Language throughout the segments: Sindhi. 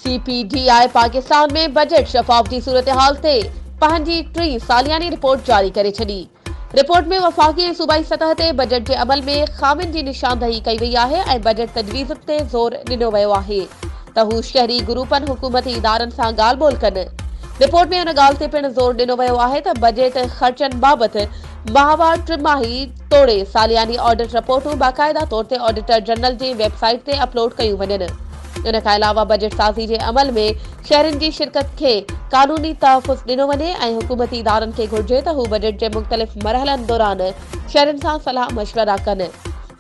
C P D I Pakistan ۾ budget شفاف جي صورتحال تي پنهنجي ٽين سالياني رپورٽ جاري ڪري ڇڏي. رپورٽ ۾ وفاقي ۽ صوبائي سطح تي بجيٽ جي عمل ۾ خامين جي نشاندهي ڪئي وئي آهي ۽ بجيٽ تجويزن تي زور ڏنو ويو آهي. ته هو شهري گروپن حڪومتي ادارن سان ڳالهه ٻولهه ڪن. رپورٽ ۾ ان ڳالهه تي پڻ زور ڏنو ويو آهي ته بجيٽ خرچن بابت ماهوار، ٽماهي توڙي سالياني آڊٽ رپورٽون باقاعده طور تي آڊيٽر جنرل جي ويب سائيٽ تي اپلوڊ ڪيون وڃن. ان کان علاوه بجيٽ سازي جي عمل ۾ شهرين جي شرڪت کي قانوني تحفظ ڏنو وڃي ۽ حڪومتي ادارن کي گهرجي ته هو بجيٽ جي مختلف مرحلن دوران شهرين سان صلاح مشورا ڪن.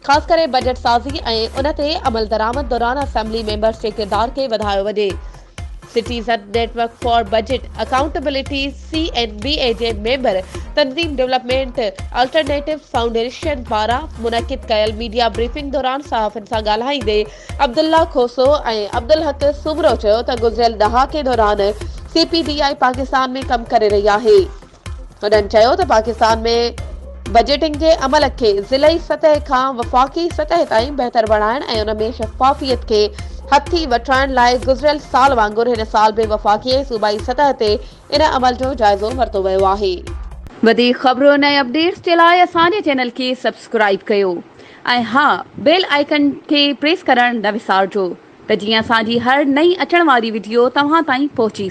خاص ڪري بجيٽ سازي ۽ ان تي عملدرآمد دوران اسيمبلي ميمبرز جي ڪردار کي وڌايو وڃي. Citizen network for budget accountability, C N B A, جي ميمبر تنظيم ڊولپمينٽ الٽرنيٽوز فائونڊيشن پاران منعقد ڪيل ميڊيا بريفنگ دوران صحافين سان ڳالهائيندي عبدالله کوسو ۽ عبدالحق سومرو چيو ته گذريل ڏهاڪي دوران C P D I Pakistan ۾ ڪم ڪري رهي آهي. هنن چيو ته پاڪستان ۾ بجيٽنگ جي عمل کي ضلعي سطح کان وفاقي سطح تائين بهتر بڻائڻ ۽ ان ۾ شفافيت کي هٿي وٺرائڻ لاء گذريل سال وانگر هن سال به وفاقي ۽ صوبائي سطح تي ان عمل جو جائزو ورتو ويو آهي. وڌيڪ خبرن ۽ اپڊيٽس جي لاء اسان جي چينل کي سبسڪرائيب ڪيو ۽ ها بيل آئيڪن کي پريس ڪرڻ نه وسارجو ته جيئن اسان جي هر نئين اچڻ واري وڊيو توهان تائين پهچي سگهي.